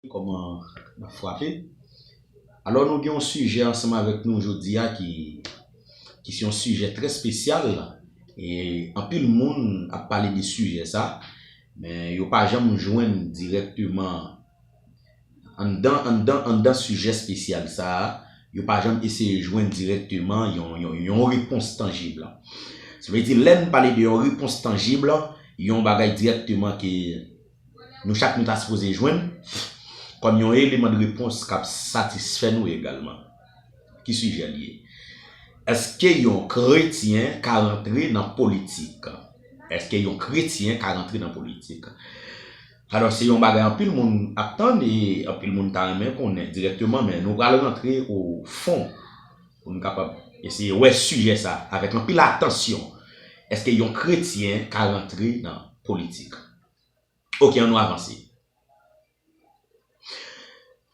Kòman n ap frape? Alò nou gen yon sijè ansanm avèk nou jodi a ki ki se yon sijè trè spesyal e anpil moun ap pale de sijè sa men yo pa janm jwenn dirèkteman anndan anndan anndan sijè spesyal sa yo pa janm eseye jwenn dirèkteman yon yon yon repons tanjib. Sa vle di lè n pale de yon repons tanjib yon bagay dirèkteman ke nou chak nou ta sipoze jwenn kòm yon eleman de repons k ap satisfè nou egalman. Ki sijè l ye? Èske yon kretyen ka rantre nan politik? Èske yon kretyen ka rantre nan politik? Alò, se yon bagay anpil moun ap tann e anpil moun ta renmen konnen dirèkteman men nou pral rantre o fon pou nou kapab eseye wè sijè sa avèk anpil atansyon, èske yon kretyen ka rantre nan politik? Ok an nou avanse.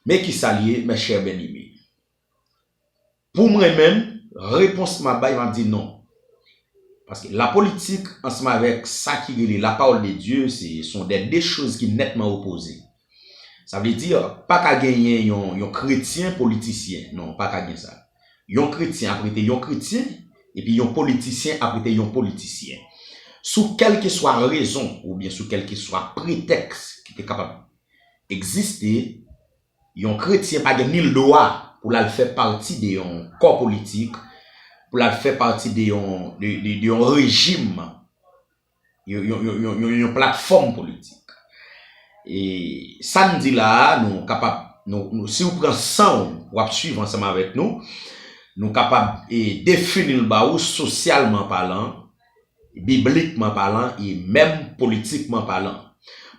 Men kisa li ye mes chers bien aimés. Pou mwen menm, repons map bay map di non. Paske la politik ansanm avèk sa ki rele la parole de Dieu se son de 2 choz ki netman opoze. Sa vle di, pa ka genyen yon kretyen politisyen. Non, pa ka gen sa. Yon kretyen ap rete yon kretyen, epi yon politisyen ap rete yon politisyen. Sou kèlkeswa rezon oubyen sou kèlkeswa pretèks ki te kapab egziste, yon kretyen pa gen nil dwa pou l al fè pati de yon kò politik, pou l al fè pati de yon rejim. yon platfòm politik. E sa n di la a, nou kapab, si ou pran san ou pou ap swiv ansanm avèk nou, nou kapab defini l ba ou sosyalman palan, biblikman palan e menm politikman palan.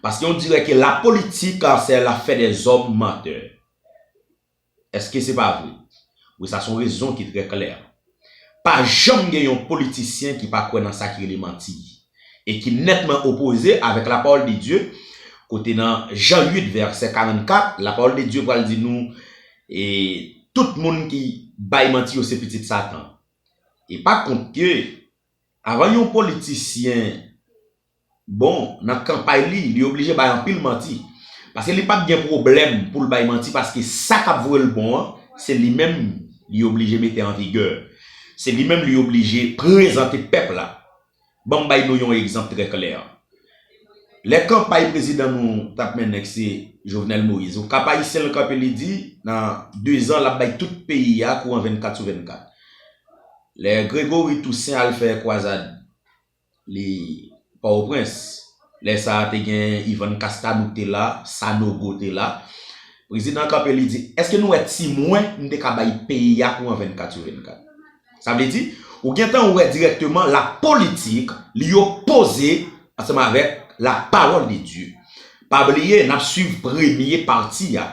Paske on dirè ke la politik se la fè dè zòm mantè. Eske se pa vre? Wi sa son rezon ki trè klè. Pa janm gen yon politisyen ki pa kwè nan sa ki rele manti e ki nètman opoze avèk la pawòl de Dye kote nan Jan 8 vèsè 44 la pawòl de Dye pral di nou e tout moun ki bay manti yo se pitit satan e pa kont ke avan yon politisyen Bon, nan kanpay li, li oblije bay anpil manti. Paske li pap gen pwoblèm pou l bay manti paske sa k ap vwe l bon an, se li menm li oblije mete an vigè. Se li menm li oblije prezante pèp la. Ban m bay nou yon egzanp trè klè. Lè kanpay prezidan nou t ap mennen k se Jovenel Moïse, o Kap-Ayisyen l kanpe li di nan dezan l ap bay tout peyi a kouran 24 sou 24. Lè Grégory Toussaint al fè kwazad Li Pòtoprens. Lè sa a te gen Yvonne Castalou te la, Sanogo te la. Prezidan an kanpe li di, èske nou wè ti mwen m te ka bay peyi a kouran 24 sou 24? Sa vle di, ou gen tan wè dirèkteman la politik li opoze ansanm avèk la parole de Dieu. Pa bliye, n ap swiv premye pati a.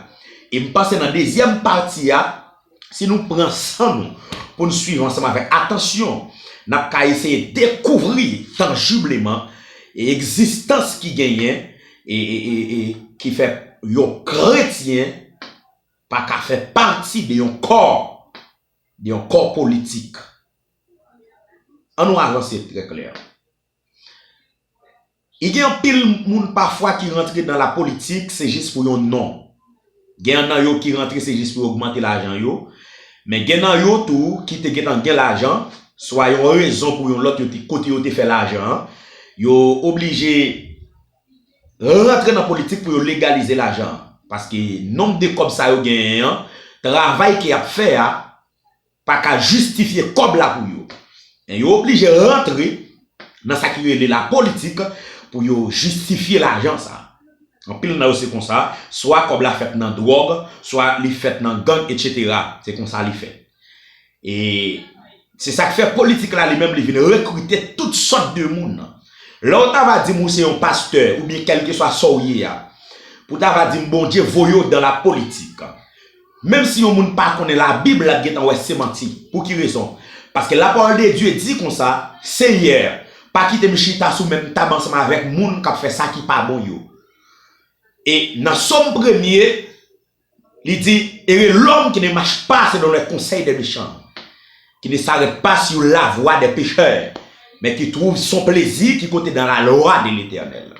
E m panse nan dezyèm pati a. si nou pran san nou pou n suiv ansanm avèk atansyon, n ap ka eseye dekouvri tanjibleman egzistans ki genyen e ki fè yon kretyen pa ka fè pati de yon kò, de yon kò politik. Annou avanse trè klè. I gen anpil moun pafwa ki rantre dan la politik se jis pou yon non. Gen an nan yo ki rantre se jis pou yo ogmante lajan yo. Men gen nan yo tou ki te gentan gen lajan, swa yon rezon pou yon lòt yo te kote yo te fè lajan an, yo oblije rantre nan politik pou yo legalize lajan an. Paske nonb de kòb sa yo genyen an, travay ke y ap fè a, pa ka jistifye kòb la pou yo. Men yo oblije rantre nan sa ki rele la politik pou yo jistifye lajan sa. Anpil nan yo se konsa, swa kòb la fèt nan dwòg, swa li fèt nan gang etc. Se konsa li fèt. E se sa k fè politik la li menm li vin rekrite tout sòt de moun. Lè w ta va di m ou se yon pastè oubyen kèlkeswa sa w ye a, pou ta va di m Bondye voye w dan la politik. Menm si yon moun pa konnen labib lap gentan wè se manti, pou ki rezon? Paske la parole de Dieu di konsa, Senyè, pa kite m chita sou menm tab ansanm avèk moun kap fè sa ki pa bon yo. E nan Somme premye, li di, Ere lòm ki ne mach pa selon lè konsèy dè mechan, ki ne sarèt pa sur la vwa dè pechè, men ki twouv son plezi ki kote dan la lwa de Letènèl.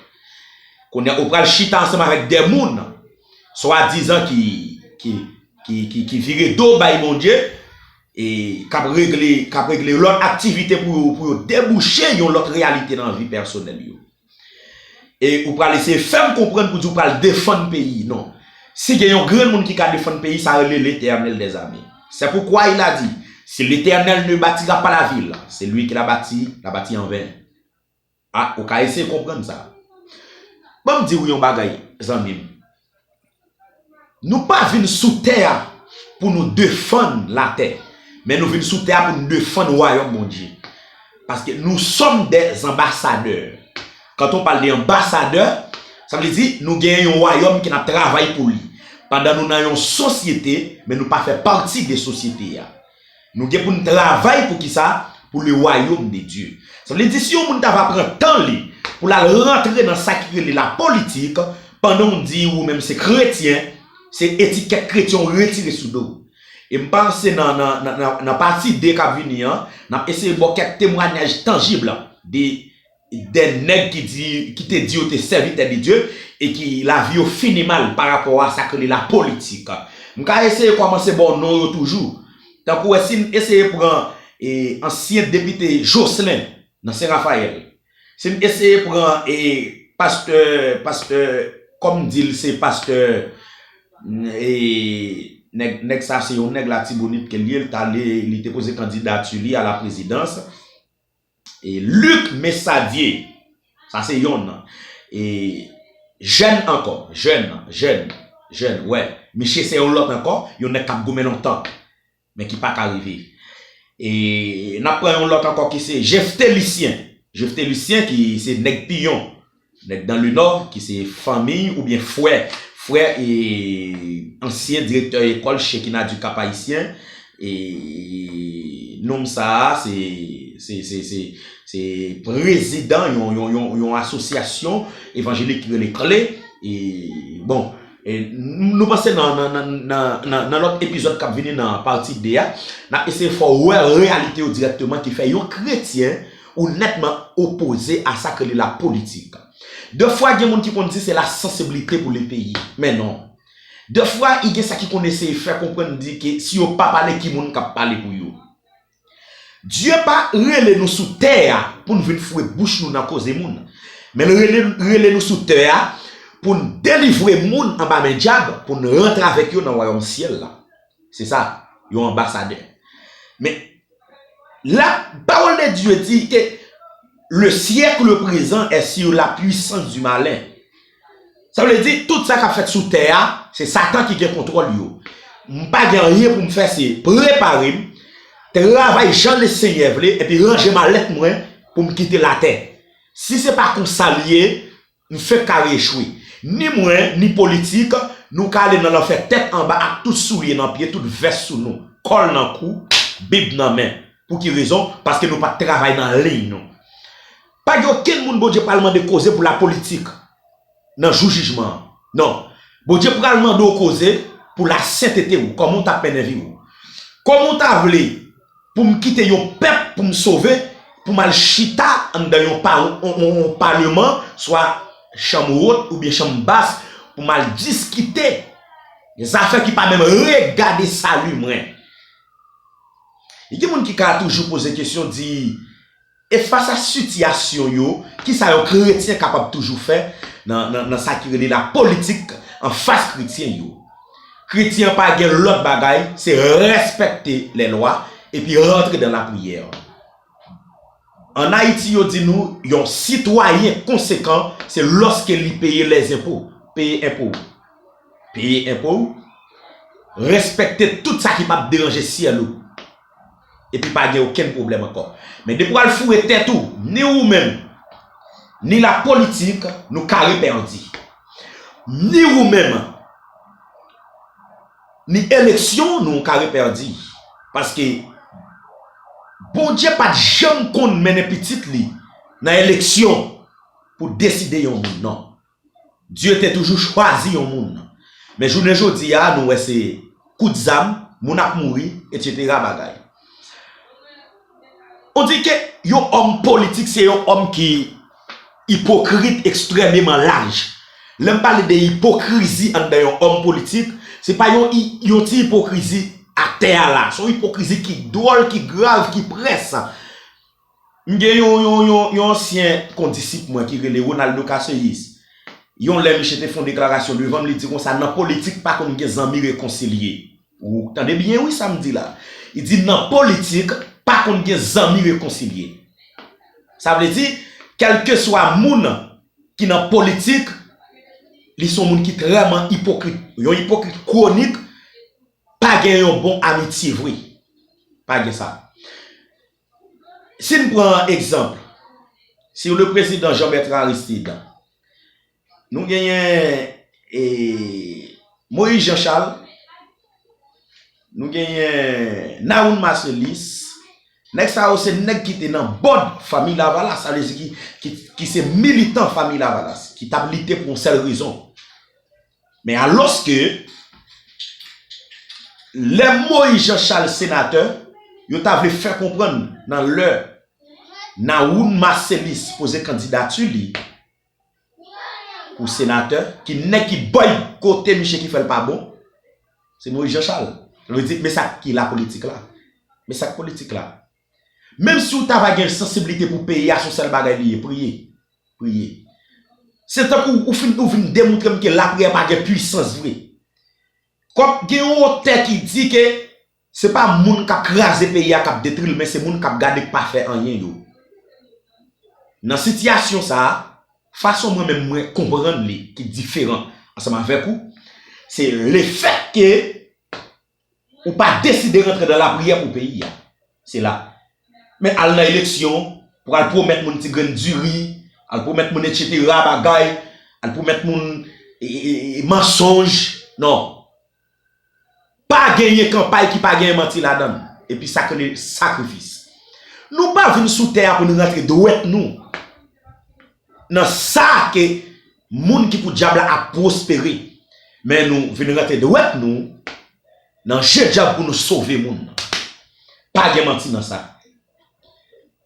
Kounye a ou pral chita ansanm avèk dè moun, swadizan ki vire do bay Bondye e k ap regle lòt aktivite pou yo pou yo debouche yon lòt reyalite nan vi pèsonèl yo. E ou pral eseye fè m konprann pou di ou pral defann peyi non. Si gen yon grenn moun ki ka defann peyi sa rele Letènèl dè zame. Sè poukwa il a di, si Letènèl ne batira pa lavil, selui ki la bati, la bati anven. A, ou ka eseye konprann sa. Ban m di ou yon bagay, zanmi m. Nou pa vin sou tè a pou nou defann latè, men nou vin sou tè a pou nou defann wayòm Bondye. Paske nou sòm dè anbasadè. Kant on pale de anbasadè, sa vle di nou gen yon wayòm ke n ap travay pou li. Pandan nou nan yon sosyete, men nou pa fè pati de sosyete a. Nou gen pou n travay pou ki sa? Pou le wayom de Dye. Sa vle di si yon moun ta va pran tan li pou l al rantre nan sa ki rele la politik, pandan w di ou menm se kretyen, se etikèt kretyen w retire sou do w. E m panse nan nan pati 2 k ap vini an, n ap eseye ba w kèk temwanyaj tanjib de 2 nèg ki di ki te di yo te sèvitè de Dye e ki lavi yo fini mal pa rapò a sa k rele la politik. M ka eseye kòmanse ba w non yo toujou. Tankou e si n eseye pran e ansyen depite Jocelin nan Sen Rafayèl. Si n eseye pran e pastè pastè kòm m di l se pastè e nèg nèg sa se yon nèg latibonit ke l ye l t ale li te poze kandidati li a la prezidans. E Luc Messadie, sa se yonn nan. E Jèn ankò, Jèn, Jèn, Jèn, wè. Miche se yon lòt ankò, yon nèg k ap goumen lontan, men ki pa ka rive. E n ap pran yon lòt ankò ki se Jephté Lucien, Jephté Lucien ki se nèg Piyon, Nèg dan lenò ki se fanmiy oubyen frè frè e ansyen direktè ekòl Shekinah du Cap Haïtien e nonm sa a se se se se prezidan yon yon yon yon asosyasyon evanjelik ki rele kle e bon e nou panse nan nan nan nan nan lòt epizòd k ap vini nan pati 2 a n ap eseye fè w wè reyalite yo dirèkteman ki fè yon kretyen Ou nètman opoze a sak rele la politik. De fwa gen moun ki konn di se la sansiblite pou le peyi. Men non. De fwa i gen sa ki konn eseye fè konprann di ke si yo pa pale ki moun kap pale pou yo. Dye pa rele nou sou tè a poun vin foure bouch nou nan koze moun. Men l rele nou sou tè a poun delivre moun anba men dyab poun rantre avèk yo nan wayòm syèl la. Se sa. Yon anbasadè. Men. La parole de Dieu dit que le siècle présent est sur la puissance du malin. Sa vle di tout sa kap fèt sou tè a, se satan ki gen kontwòl yo. M pa gen anyen pou m fè se prepare m, travay jan le Senyè vle epi ranje malèt mwen pou m kite latè. Si se pa konsa l ye, Nou fenk kare echwe. Ni mwen, ni politik, nou ka ale nan lanfè tèt anba ak tout soulye nan pye, tout vès sou nou, kòl nan kou, bib nan men. Pou ki rezon? Paske nou pat travay nan liy nou. Pa gen okenn moun Bondye pral mande koze pou lapolitik nan jou jijman an. Non. Bondye pral mande w koze pou lasentete ou, kòman ou t ap mennen vi ou. Kòman ou ta vle. Pou m kite yon pèp pou m sove, pou m al chita anndan yon paleman, swa chanm wot oubyen chanm bas, pou m al diskite zafè ki pa menm regade sali mwen. Gen moun ki ka toujou poze kesyon di. E fas a sitiyasyon yo, ki sa yon kretyen kapab toujou fè nan sa ki rele lapolitik anfas kretyen yo? Kretyen an pa gen lòt bagay, se rèspèkte lèlwa epi rantre nan lapriyè. An Ayiti yo di nou yon sitwayen konsekan se lòske li peye lèzenpo, peye enpo ou. Peye enpo ou, rèspèkte tout sa ki pap deranje syèl ou. epi pa gen okenn pwoblèm ankò. Men depi w al foure tèt ou, ni ou menm, ni lapolitik, nou kare pèdi. Ni ou menm, ni eleksyon nou kare pèdi. Paske Bondye pa t janm konn mennen pitit li nan eleksyon pou deside yon moun non. Dye te toujou chwazi yon moun. Men jounen jodi a nou wè se kout zam, moun ap mouri, etc. Bagay. On di ke yon òm politik se yon òm ki ipokrit ekstrememan laj. Lè m pale de ipokrizi anndan yon òm politik, se pa yon yon ti ipokrizi atè a la. Se yon ipokrizi ki dwòl, ki grav, ki près. M gen yon yon yon yon ansyen kondisip mwen ki rele Ronaldo Casseus, yon lè miche te fon deklarasyon devanm li di konsa nan politik pa konn gen zanmi rekonsilye. Ou tande byen wi sam di la. Li di nan politik pa konn gen zanmi rekonsilye. Sa vle di kelkeswa moun ki nan politik li son moun ki treman ipokrit. Yon ipokrit kwonik pa gen yon bon amitye vre. Pa gen sa. Si n pran egzanp si le prezidan Jean Bertrand Aristide, nou genyen Moïse Jean Charles, nou genyen Nahoun Marcellus, nèg sa yo se nèg ki te nan bòd Fanmi Lavalas, sa vle di ki se militan Fanmi Lavalas, ki t ap lite pou yon sèl rezon. Men alòske, lè Moïse Jean Charles senatè, yo ta vle fè konprann nan lè Nawoun Marcellus poze kandidati li pou senatè, ki nèg ki bòykote miche ki fè l pa bon? Se Moïse Jean Charles. Sa vle di, men sa ki lapolitik la. Men sa k politik la. Menm siw ta va gen sansiblite pou peyi a son sèl bagay li ye priye priye se tankou ou fin ou vin demoutrem ke lapriyè pa gen pwisans vre kòm gen yon otè ki di ke se pa moun kap kraze peyi a kap detril men se moun kap gade k pa fè anyen yo nan sitiyasyon sa fason mwen menm mwen konprann li ki diferan ansanm avèk ou se lefèt ke Ou pa deside rantre dan lapriyè pou peyi ya. Se la. Men al nan eleksyon, pou al pwomèt moun ti grenn diri, al pwomèt moun etc. Bagay, al pwomèt moun mansonj. Non. Pa genyen kanpay ki pa genyen manti ladann. Epi sa k rele sakrifis. Nou pa vin sou tè ya pou nou rantre dwèt nou. Nan sa ke moun ki pou dyab la ap pwospere. Men nou vin rantre dwèt nou nan je dyab pou nou sove moun nan. Pa gen manti nan sa.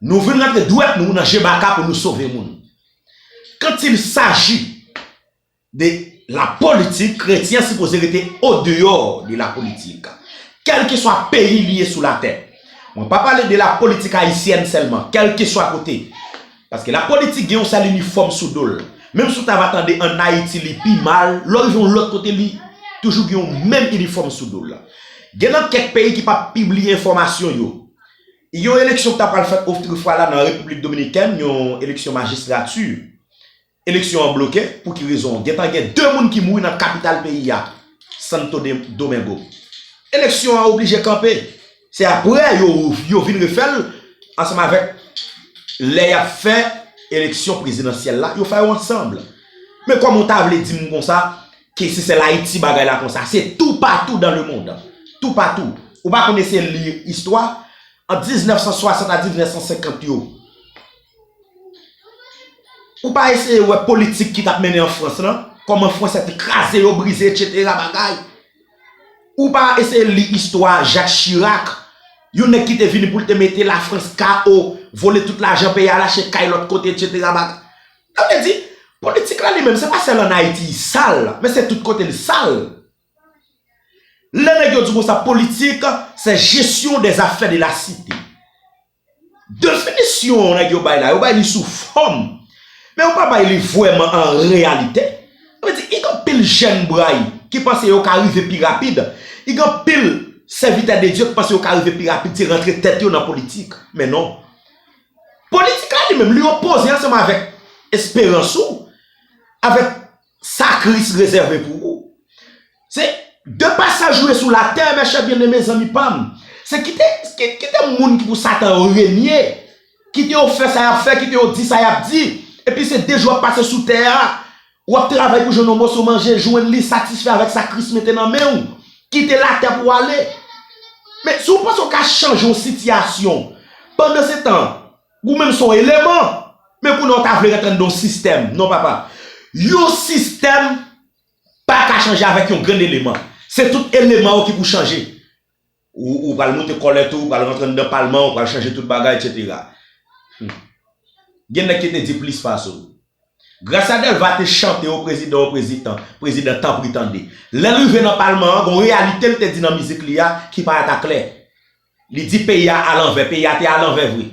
Nou vin rantre dwèt nou nan je baka pou nou sove moun. Kantil saji. de la politik, kretyen sipoze rete o deyò de la politik. Kèlkeswa peyi li ye sou latè. Mwen pa pale de la politik ayisyèn sèlman, kèlkeswa kote. Paske la politik gen yon sèl inifòm sou do l. Menm si w ta va tande an Ayiti li pi mal, lè w rive yon lòt kote li toujou gen yon menm inifòm sou do l. Gen nan kèk peyi ki pa pibliye enfòmasyon yo. Yon eleksyon ki ta pral fèt otrefwa la nan Repiblik Dominikèn, yon eleksyon majistrati. Eleksyon an bloke, pou ki rezon? Gentan gen 2 moun ki mouri nan kapital peyi a, Santo Domingo. Eleksyon an oblije kanpe. Se aprè yo vin refè l ansanm avèk lè y ap fè eleksyon prezidansyèl la, yo fè yo ansanm. Men kòman ou ta vle di m konsa ke se sèl Ayiti bagay la konsa? Se toupatou dan lemonn. Toupatou. Ou pa konn eseye li istwa? Ant 1960 a 1950 yo. Ou pa eseye wè politik ki tap mennen an Frans lan, kòman Fransè te kraze yo, brize etc. Bagay. Ou pa eseye li istwa Jacques Chirac, yon nèg ki te vini pou l te mete la Frans KO, vole tout lajan peyi al achte kay lòt kote etc. Bagay. Sa vle di, politik la li menm se pa sèl an Ayiti li sal, men se tout kote li sal. Lè nèg yo di konsa politik, se gestion des affaires de la cité. Definisyon nèg yo bay la, yo bay li sou fòm, men yo pa bay li vrèman an reyalite. Sa vle di, ik anpil jèn bray ki panse yo ka rive pi rapid, ik anpil sèvitè de Dye ki panse yo ka rive pi rapid se rantre tèt yo nan politik. Men non. Politik la li menm, li opoze ansanm avèk esperans ou, avèk. Sa Kris rezève pou ou. Se de pasaj ou ye sou latè, mèchè byeneme zanmi pa m. Se kite kite moun ki pou Satan yo renye, kite yo fè sa y ap fè, kite yo di sa y ap di, epi se de jou w ap pase sou tè a, w ap travay pou jwenn yon moso manje, jwenn li, satisfè avèk sa Kris mete nan men ou, kite latè pou w ale. Men, si w panse w ka chanje yon sitiyasyon pandan se tan, Ou menm son eleman. Men kounye a w ta vle rantre anndan yon sistèm. Non papa. Yon sistèm pa ka chanje avèk yon grenn eleman. Se tout eleman yo ki pou chanje. Ou pral moute kòlèt ou, ou pral rantre anndan palman, ou pral chanje tout bagay etc. Hum. Gen nèg ki te di plis pase w. Gracia Delva te chante o prezidan o prezitan, prezidan tanpri tande. Lè l rive nan palman an, gon reyalite l te di nan mizik li a ki parèt a klè. Li di peyi a alanvè, peyi a te alanvè vre.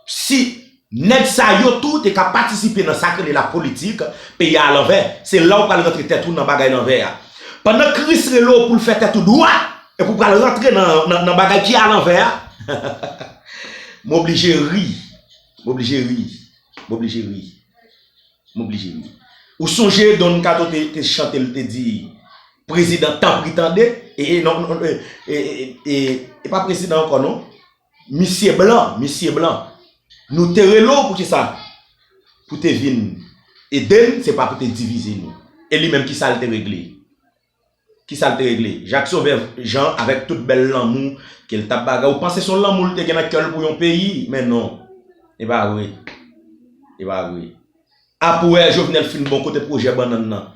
Si nèg sa yo tou te ka patisipe nan sa k rele la politik, peyi a alanvè, se la ou pral rantre tèt ou nan bagay lanvè a. Pandan Kris rele w pou l fè tèt ou dwat, epi ou pral rantre nan bagay ki alanvè a, m oblije ri, m oblije ri, m oblije ri. M oblije ri. Ou sonje Don Kato te chante l te di prezidan tanpri tande e pa prezidan ankò non misye blan misye blan nou te rele w poukisa pou te vin ede n se pa pou te divize nou e li menm kisa l te regle. Ki sa l te regle? Jacques Sauveur Jean avèk tout bèl lanmou ke l t ap bagay, ou panse se yon lanmou l te gen nan kè l pou yon peyi? Men non! E pa vre! E pa vre! Apwè Jovenel fin bon kote pwojè bannann nan?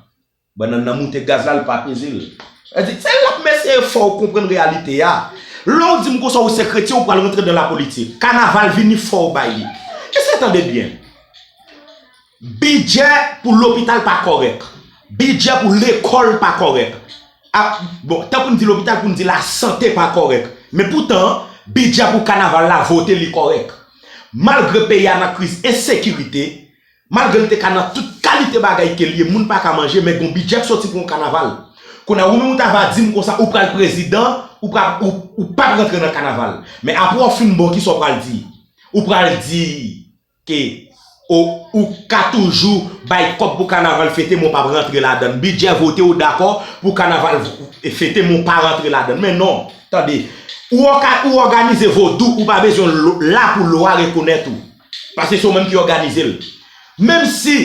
Bannann nan moute gaz la, l pa peze l. Sa vle di, se la mesye e fò ou konprann reyalite a. Lè ou di m konsa ou se kretyen ou pral rantre dan lapolitik. Kanaval vini fò ou bay li. Ese tande byen. Bidjè pou lopital pa kòrèk, bidjè pou lekòl pa kòrèk, ak bon tan pou n di lopital pou n di lasante pa kòrèk men poutan bidjè pou kanaval la vote li kòrèk. Malgre peyi a nan kriz ensekirite, malgre l te ka nan tout kalite bagay ke l ye moun pa ka manje men gon bidjè k soti pou yon kanaval. Kounye a ou menm ou ta va di m konsa ou pral prezidan ou pa ou pap rantre nan kanaval men apre w fin bon kisa w pral di? Ou pral di Ke o ou ka toujou bay kòb pou kanaval fete men w pap rantre ladann. Bidjè vote ou dakò pou kanaval fete men w pa rantre ladann. Men non! Tande! Ou oka ou òganize vodou ou pa bezwen l la pou lwa rekonèt ou. Paske se w menm ki òganize l. Menm si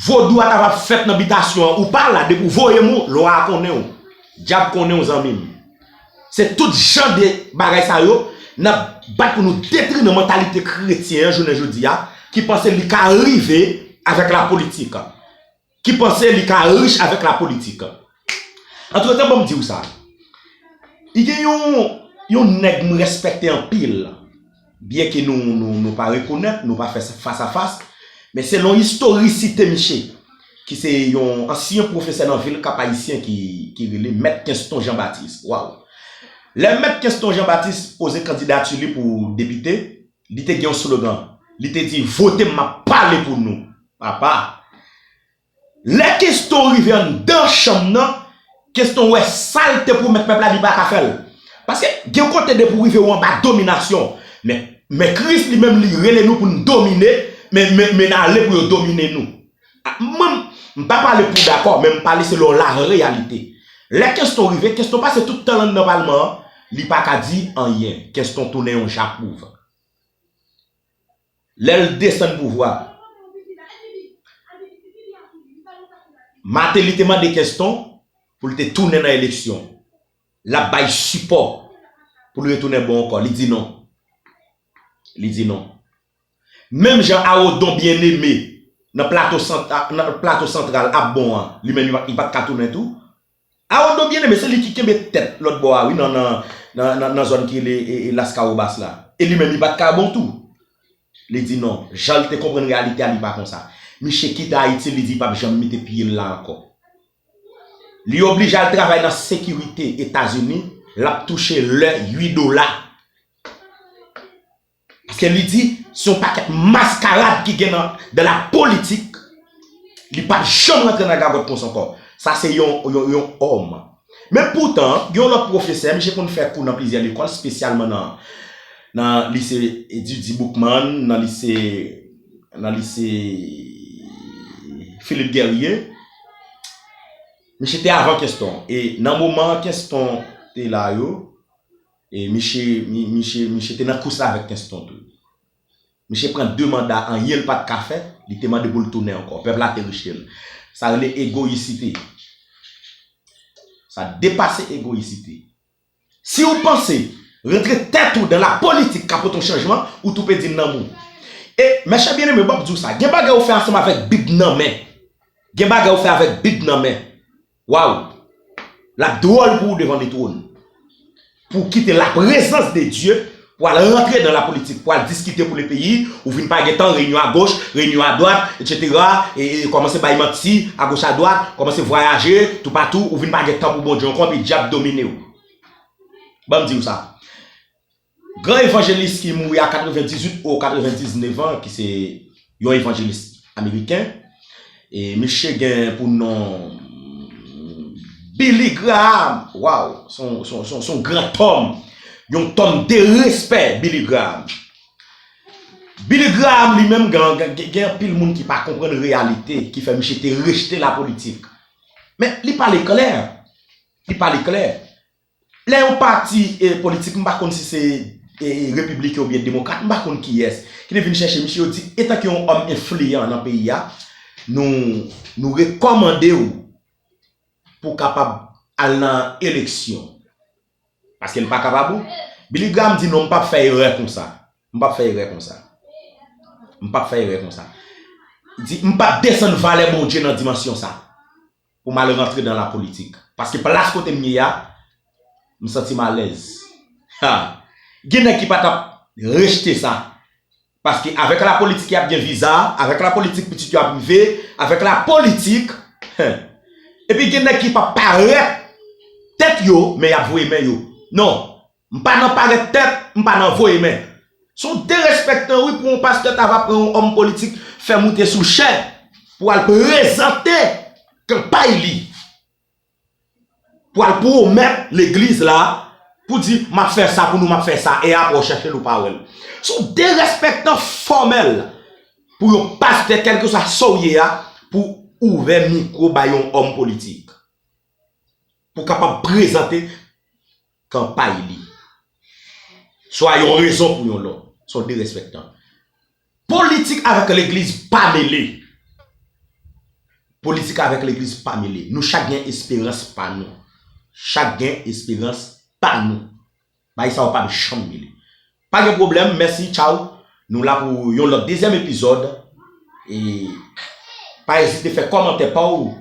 vodou a ta va fèt nan bitasyon an ou pa la depi w voye m ou lwa a konnen w. Dyab konnen w zanmi m. Se tout jan de bagay sa yo n ap bat pou nou detri nan mantalite kretyen an jounen jodi a ki panse li ka rive avèk lapolitik, ki panse li ka rich avèk lapolitik. Antretan ban m di w sa, gen yon nèg m rèspèkte anpil, Byenke nou pa rekonèt, nou pa fè fas a fas, men selon istorisite miche, ki se yon ansyen pwofesè nan vil Kap Ayisyen ki rele Mèt Kenston Jan Batis, waww, lè Mèt Kenston Jan Batis poze kandidati li pou depite, li te gen yon slogan, li te di, Vote m, m ap pale pou nou, papa! Lè Keston rive anndan chanm nan, Keston wè sa l te pwomèt pèp la li pa ka fè l. Paske gen kote depi w rive ou anba dominasyon. Men men Kris li menm li rele nou pou n domine, men men men n ale pou yo domine nou. A mwen m m pa pale pou w dakò men m pale selon lareyalite. Lè Keston rive, Keston pase tout tan l anndan palman an, li pa ka di anyen. Keston tounen yon japwouv. Lè l desann pouvwa a, Martelly te mande Kenston pou l te tounen nan eleksyon, l ap bay sipò pou l retounen bon ankò. Li di non. Li di non. Menm jan a Odon Bien-Aimé nan Plato Santral ap bon an, li menm li pa t ka tounen tou. Aroldo byen eme se li ki kenbe tèt lòt bò a wi nan nan zòn ki rele laskawobas la e li menm li pat ka bon tou li di non jan li te konprann reyalite a li pa konsa miche kite ayiti li di pap janm mete pyel la ankò li oblije al travay nan sekirite etazini lap touche lè ui dola. Paske li di se yon pakèt maskarad ki gen nan de la politik, li pap janm rantre nan gagòt konsa ankò. Sa se yon òm. Men poutan, gen yon lòt pwofesè, misye konn fè kou nan plizyè lekòl, spesyalman nan lise Didi Boukman, nan lise, nan lise Philippe Guerrier. Misye te avan Kenston. E nan moman Kenston te la yo. E miche miche miche te nan kous la avèk Tenston tou. Miche pran 2 manda anyen l pat ka fè, li te mande pou l tounen ankò. Pèp la te rejte l. Sa rele egoyisite. Sa depase egoyisite. Si ou panse rantre tèt ou dan la politik ka pote yon chanjman, ou tou pèdi nanm ou. E mèchè byeneme bòm di w sa, gen bagay ou fè ansanm avèk bib nan men. Gen bagay ou fè avèk bib nan men. Waww lap dròl pou ou devan metro n pou ou kite la prezans de Dye pou al rantre dan la politik pou al diskite pou le peyi ou vin pa gentan reyinyon a goch reyinyon a dwat etc kòmanse bay manti a goch a dwat kòmanse vwayaje tou patou ou vin pa gen tan pou Bondye ankò epi dyab domine w banm di w sa Gran evanjelis ki mouri a 98 ou 99 an ki se yon evanjelis ameriken e miche gen pou non Billy Graham waw son gran tòm yon tòm de respè Billy Graham Billy Graham li menm gen anpil moun ki pa konprann reyalite ki fè miche te rejte la politik men li pale klè li pale klè Lè yon pati politik, m pa konn si se repibliken oubyen demokrat, m pa konn kiyès, ki te vin chèche misye, yo di, etanke yon òm enfliyan nan peyi a, nou rekòmande ou pou w kapab al nan eleksyon. Paske l pa kapab ou. Billy Graham di non, m p ap fè erè konsa. M p ap fè erè konsa. M p ap fè erè konsa. Li di, m p ap desann valè Bondye nan dimansyon sa. pou m al rantre dan lapolitik. Paske plas kote m ye a, m santi m alèz. Ha! Gen nèg ki pa t ap rejte sa. Paske avèk lapolitik y ap gen viza, avèk lapolitik pitit yo ap rive, avèk lapolitik, he! Epi gen nèg ki p ap parèt tèt yo, men y ap voye men yo. Non! M pa nan parèt tèt, m pa nan voye men. Se yon derespektan wi pou yon pastè ta va pran yon òm politik fè moute sou chè pou al prezante kanpay li. Pou al pwomèt legliz la pou di m ap fè sa pou nou m ap fè sa e aprè w chèche l ou pa wè l. Se yon derespektan fòmèl pou yon pastè kèlkeswa sa w ye a pou ouvè mikwo bay yon òm politik pou kapab prezante. kanpay li. Swa yon rezon pou yon lòt. Son derèspèktan. Politik avèk legliz pa mele. Politik avèk legliz pa mele. Nou chak gen esperans pa nou. Chak gen esperans pa nou. Bagay sa yo pap janm mele. Pa gen pwoblèm, mèsi, tchaw. Nou la pou yon lòt dezyèm epizòd. E pa ezite fè kòmantè pa w.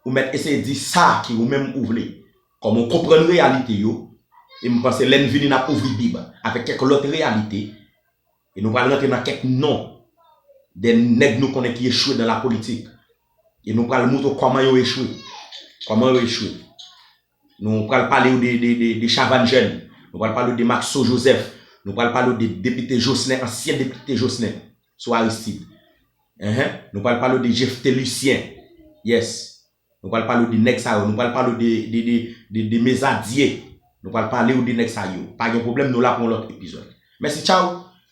Ou mèt eseye di sa ki ou menm ou vle. Kòm ou konprann reyalite yo, e m panse lè n vini n ap ouvri Bib avèk kèk lòt reyalite, e nou pral rantre nan kèk non de nèg nou konnen ki echwe dan lapolitik, e nou pral moutre w kòman yo echwe, kòman yo echwe. Nou pral pale w de Chavannes Jeune, nou pral pale w de Maxo Joseph, nou pral pale w de Depite Jocenin, ansyen Depite Jocenin, sou Aristide. Ehe, nou pral pale w de Jephté Lucien. Yes. Nou pral pale w de nèg sa yo, nou pral pale w de de de de de mes adye nou pral pale w de nèg sa yo pa gen pwoblèm nou la pou yon lòt epizòd mèsi tchaw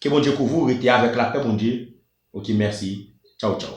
ke Bondye kouvri w rete avèk lapè Bondye ok mèsi tchaw tchaw.